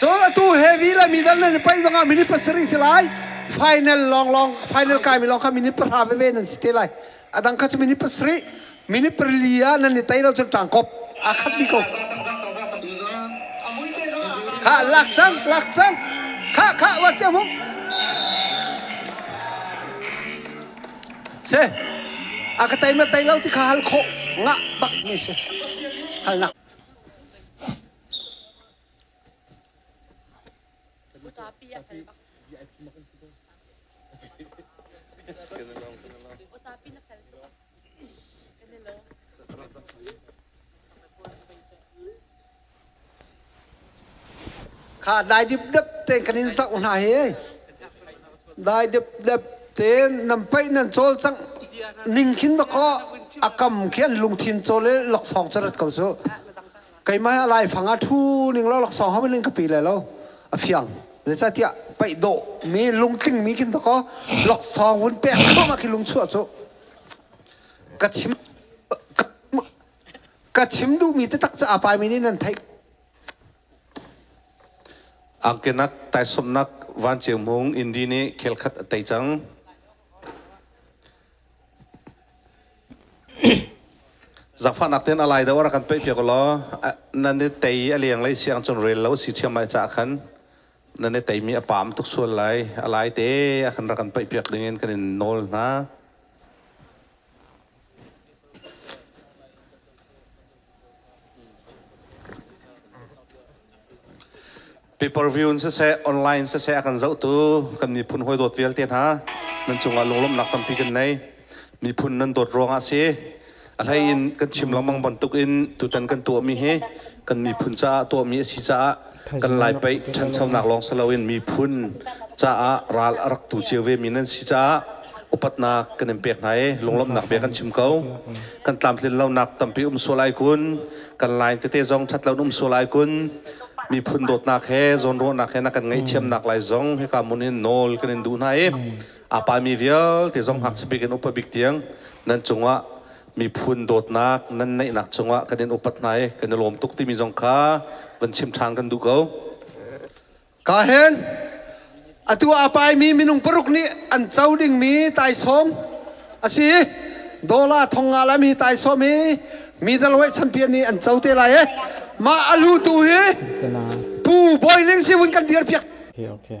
Cun atu he vi le mi dal nan i paih zongah minute pasarih si lai. Final lawnglawng final kaimi lawng kha minute pahra veve nan si te lai. Adang kha cu minute pasarih, minute parili ah nan i tai lo cun ṭangkop aa khat dih ko. Ha lak cang, lak cang. Kha kha wat cia mu. Si. A ka teima tei lo ti kha hal khawh ngah bak mi si. Halnak. Kha dai dipdep te kan in hlauh hna hi. Dai dipdep te nan paih nan cawl cang ning khin na ko a kam khi an lungthin cawl le laksawng cu rat ko su. Keimah a lai fang a thu ning lo laksawng hau ning ka pi le lo a fiang. Zeicatiah paih dawh mi lungtling mi khin ta ko laksawng vun pek khama khi lung chuah cu. Ka chim ka chim duhmi taktak ca a paimi nih nan theih angkenak taisomnak vanceu mung indi nih khelkhat a tei cang zakfahnak ten alai do ara kan pe pia ko lo nan ne tei a liang lei siang chon rel lo si thiam mai cha khan nan ne tei mi a pam tuk sual lai alai te a kan ra kan pe piak ding in kan in nawl hna Paper view in siseh, online siseh a kan zohtu kan miphun hawi dawt vialte hna nan cungah lunglawmhnak tampi kan nei. Miphun nan dawt ruangah si a hlei in kan chim lengmang bantuk in tutan kan tuahmi hi kan miphun caah tuahmi a si caah kan lai paih ṭhanchonak lawng si loin miphun caah ral a rak tu cio vemi nan si caah upatnak kan in pek hna i lunglawmhnak bia kan chim ko kan tlamtlin lonak tampi um sual ai kun kan line tete zong ṭhatlo um sual ai kun miphun dawtnak he zawnruahnak he na kan ngaih thiamnak lai zong hika mun in nawl kan in duh hna i apa mi vialte zong hak sapi kan upa bik tiang nan cungah Miphun dawtnak nan neihnak cungah kan in upat hna i kan i lawm tuk timi zong kha van chim ṭhan kan duh ko. Ka hen. Atu a paimi minung paruk nih an co dingmi taisawm a si. Dola thong nga lam hi taisawm hi middleweight champion nih an co te lai e. Mah a lutu hi Pu Bawi Ling si un kan dir piak. Okay, okay.